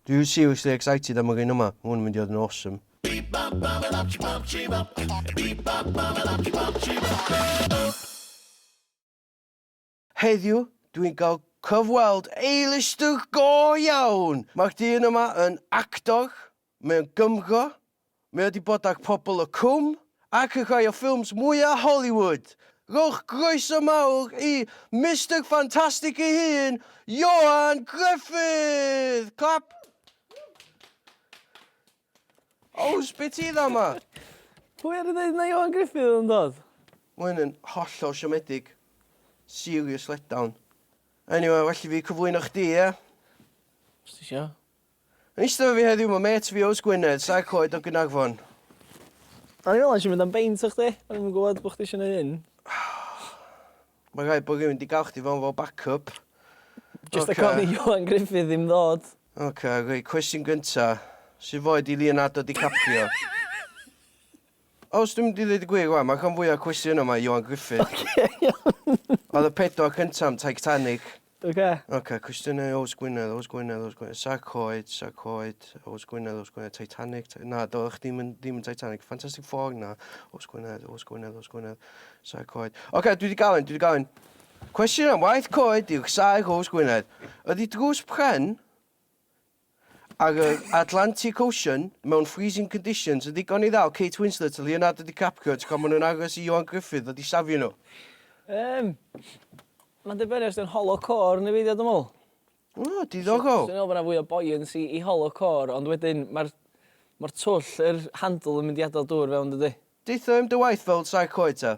Dw i'n seriously excited am yr un yma, mae hwn yn mynd i fod yn awesome. Heddiw, dw i'n cael cyfweld A-lister go iawn! Mae'r dyn yma yn actor, Mae o'n Gymro, mae o 'di bod ag Pobl y Cwm ac yn rhai o ffilms mwya Hollywood! Rhowch groeso mawr i Mister Fantastic ei hun, Ioan Grefydd! Clap! Ows, be ti dda ma? Pwy ar y ddeud na Ioan Grefydd oedd yn dod? Mae hyn yn hollol siomedig. Serious letdown. Eniwe, well i fi cyflwyno chdi, ie? Os ti isio. Yn eistedd efo fi heddiw ma mêt fi Ows Gwynedd, Saer Coed o Gaernarfon. O'n i'n meddwl nes i mynd am beint efo chdi, o'n i'm yn gwbod bo' chdi isio neud hyn. Ma' rhaid bo' rywun 'di ga'l chdi fewn fel back up. Jyst rhag ofn i Ioan Gruffydd ddim ddod. Ocê, reit, cwestiwn gynta'. Sut foi 'di Leonardo DiCaprio? Os dwi'n mynd i ddeud y gwir wan, ma'r rhan fwya cwestiynau yma i Ioan Gruffydd. Ocê iawn. Oedd y pedwar cynta am Titanic. Ocê. Ocê, cwestiynau i Ows Gwynedd, Ows Gwynedd, Ows Gwynedd. Sa'r coed, sa'r coed, Ows Gwynedd, Ows Gwynedd, Titanic, Ti- na, do, o'ch dim yn, dim yn Titanic, Fantastic Four, na, Ows Gwynedd, Ows Gwynedd, Ows Gwynedd, sa'r coed. Ocê, dwi wedi gael un, dwi wedi gael un. Cwestiwn am waith coed yw'r saer Ows Gwynedd. Ydy drws pren Ar yr Atlantic Ocean, mewn freezing conditions, yn ddigon i ddal Kate Winslet a Leonardo DiCaprio tra maen nhw'n aros i Ioan Gruffudd ddod i safio nhw? Yym, mae'n dibynnu os 'di o'n hollow core neu beidio dwi'n meddwl. O, diddorol. 'Swn i'n meddwl bod 'na fwy o buoyancy i hollow core, ond wedyn mae'r mae'r twll, yr handle yn mynd i adael dŵr fewn dydy? Deutha i am dy waith fel saer coed ta.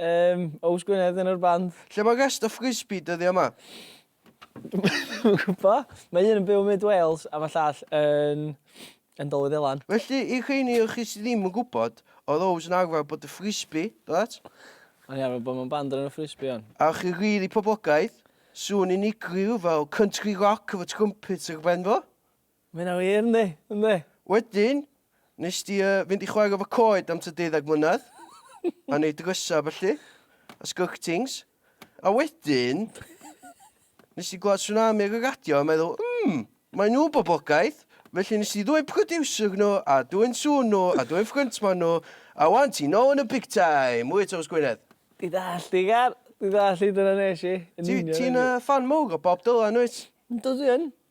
Yym, Ows Gwynedd yn yr band? Lle mae rest of Frisbee dyddiau ma? Dwi'm yn gwbo. Mae un yn byw yn myd Wales a ma llall yn yn Dol y Ddelan. Felly, i'r rheini o chi sydd ddim yn gwybod, oedd Ows yn arfer bod y Frisbee, do that? O'n i arfer bod mewn band o'r enw Frisbee, o'n. A o'ch chi rili poblogaidd. Sŵn unigryw fel country rock efo trumpets ar ben fo. Mae hynna wir, yndi, yndi. Wedyn, nes di yy fynd i chwarae efo coed am tua deuddeg mlynedd, a neud drysa a ballu, a sgyrtings, a wedyn, nes di glywed Tsunami ar y radio a meddwl, mm, mae nhw'n boblogaidd, felly nes di ddwyn producer nhw, a dwyn sŵn nhw, a dwyn ffryntman nhw, a wan ti nôl yn y big time, Mwy Tomos Gwynedd. Dwi ddall' di Gar, dwi ddall' di, dyna nes i, yn union. Ti'n yy ffan mowr o Bob Dylan wyt? Yndw dwi yn.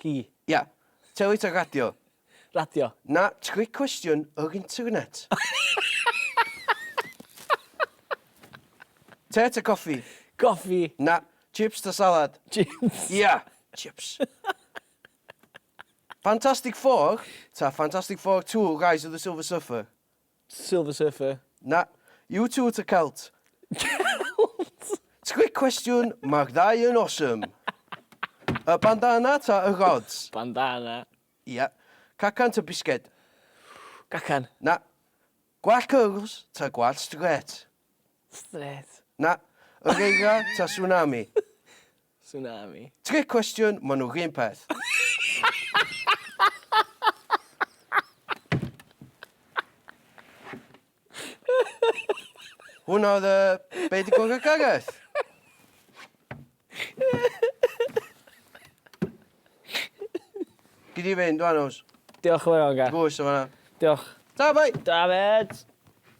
Ci. Ia. Teli ta radio? Radio. Na, tric cwestiwn yr internet. Te ta coffi? Coffi. Na, chips ta salad? Chips. Ia, chips. Fantastic Four ta Fantastic Four Two, Rise of the Silver Surfer? Silver Surfer. Na. U two ta Celt? Celt! Trick cwestiwn, mae'r ddau yn awesome. Y bandana ta y rods? Bandana. Ia. Cacan ta bisged? Cacan. Na. Gwallt cyrls ta gwallt strêt? Strêt. Na. Yr eira ta tsunami? Tsunami. Trick question, ma nhw run peth. Hwna oedd y... Be di gwrdd y Gareth? Gyd i fynd, dwan os. Diolch yn fawr, Gareth. Gwrs o fanna. Diolch. Ta, bai! Ta, fed!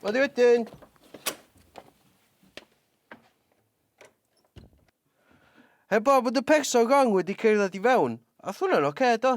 Wedi wedyn! Heblaw bod y person wrong wedi cerdded i fewn, ath hwnna'n ocê do?